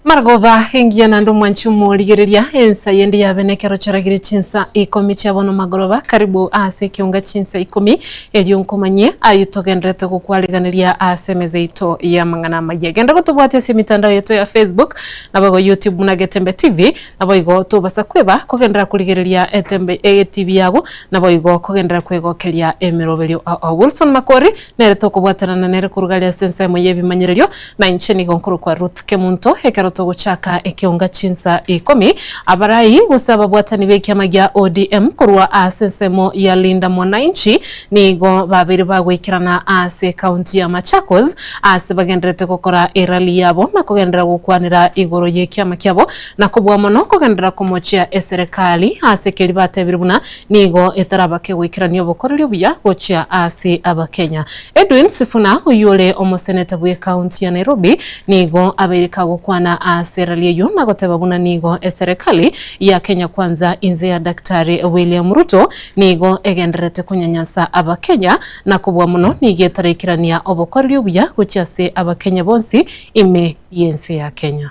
Marogoba engiya naende omwanchi omorigereria, ensa yende yabe nekero choragire chinsa ikomi chia bono magoroba karibu ase ekionga chinsa ikomi, erio nkomanyie ayio togenderete gokwariganeria ase emeza yaito y'amang'ana amaya. Genda gotobwati ase emitandao yaito ya Facebook, naboigo YouTube buna Getembe TV, Naboigo tobasa kweba kogenderera korigereria etembe egetibi yago, naboigo kogenderera kwegokeria emeroberio. Wilson Makori, Nere tokobwatanana nere korwa gare ase ensemo y'ebimanyererio, na inche nigo nkorokwa Ruth Kemunto. Ekero togochaka ekeunga chinsa ikomi, abarai gose ababwatani b'ekiama gia ODM korwa ase ensemo ya Linda Mwananchi nigo babeire bagoikerana ase ekaunti ya Machakos ase bagendererete gokora erally yabo na kogenderera gokwanera igoro y'ekiama kiabo Na kobua mono kogenderera komochia eserekari ase keria batebirie buna nigo etarabake goikerania obokoreri obuya gochia ase Abakenya. Edwin Sifuna oyore omoseneta bwe county ya Nairobi nigo abeire kagokwana ase rally eyio na goteba buna nigo eserekari ya Kenya Kwanza inse ya Daktari William Ruto nigo egendererete konyanyansa Abakenya na kobua mono nigo etaraikerania obokoreri obuya gochia ase Abakenya bonsi ime y'ense ya Kenya.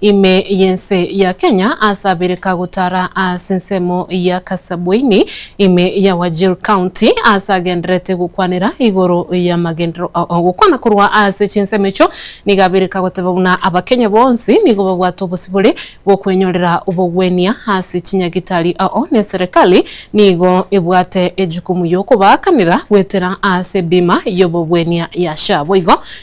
Ime y'ense ya Kenya ase Abirika gotara ase ensemo ya Kasabuini, ime ya Wajir County, ase agendererete gokwanera igoro y'amagenderero ao. Ogokwana korwa ase chinsemo echio nigo Abirika goteba buna Abakenya bonsi nigo babwate obosibore bw'okwenyorera obogwenia ase chinyagitari ao, ne Serikali nigo ebwate ejukumu y'okobaakanera gwetera ase ebima y'obogwenia ya SHA. Boigo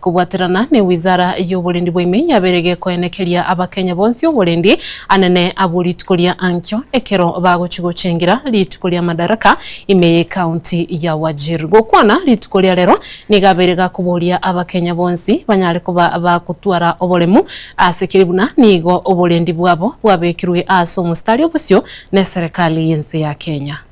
Kobwaterana ne Wizara y'Oborendi bw'Ime yabeire gekoenekeria Abakenya bonsi oborendi anene abwo rituko ria ankio ekero bagochia gochengira rituko ria Madaraka ime y'Ekaunti ya Wajir. Gokwana rituko ria rero nigo abeire gakoboria Abakenya bonsi banyare koba bagotwara oboremu ase keri buna nigo oborendi bwabo bwabekirwe ase omostari obosio neserikali y'ense ya Kenya.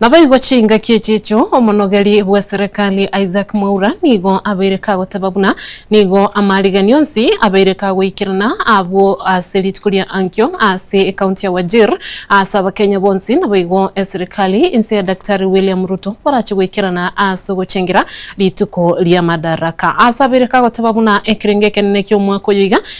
Naboigo chingaki echi echio omonogeri bw'eserekari Isaac Mwaura nigo abeire kagoteba buna nigo amarigeani onsi abeire kagoikerana abwo ase rituko ria ankio ase ekaunti ya Wajir ase abakenya bonsi naboigo eserekari inse ya Daktari William Ruto barache goikerana ase ogochengira rituko ria Madaraka ase abeire kagoteba buna ekerengo ekenene ki'omwaka oyo iga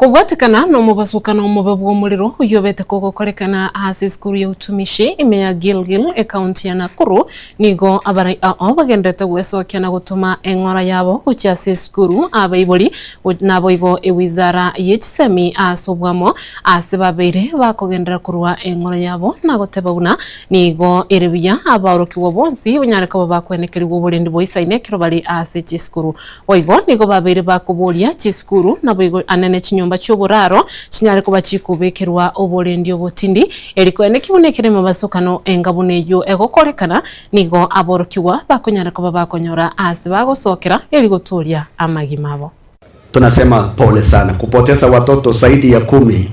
Kobwatekana nomobasukano omobe bw'omorero oyobete kogokorekana ase esukuru ya utumishi ime ya Gilgil, ekaunti ya Nakuru, nigo abarai ao bagendererete gwesokia na gotoma eng'ora yabo gochia ase esukuru abaibori naboigo ewizara yechisemi ase obwamo ase babeire bakogenderera korwa eng'ora yabo nagoteba buna nigo ere buya abaorokigwa bonsi banyare koba bakwenekerigwa oborendi boisaine ekero bare ase chisukuru Boigo nigo babeire bakoboria chisukuru, naboigo ande ne chinyomba chi'oboraro chinyare koba chikobekerwa oborendi obotindi, eri koende ki buna ekero emebasokano enga buna eyio egokorekana, nigo aborokigwa bakonyara koba bakonyora aase bagosokera, eri gotooria amagima abo. Tunasema pole sana kupotesa watoto saidi ya kumi.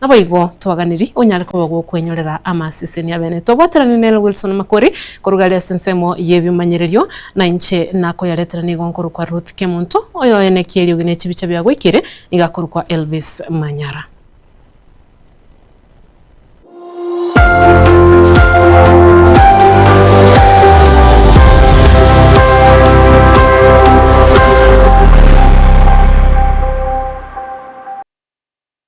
Naboigo twaganiri onyare koba gwokwenyorera amaseseni abene. Twabwaterani nere Wilson Makori koruga are ase ensemo y'ebimanyererio, na inche nakoyaretera nigo nkorokwa Ruth Kemonto, oyo ene ki'eriogi ne chibicha bia gwaikire nigo akorokwa Elvis Manyara.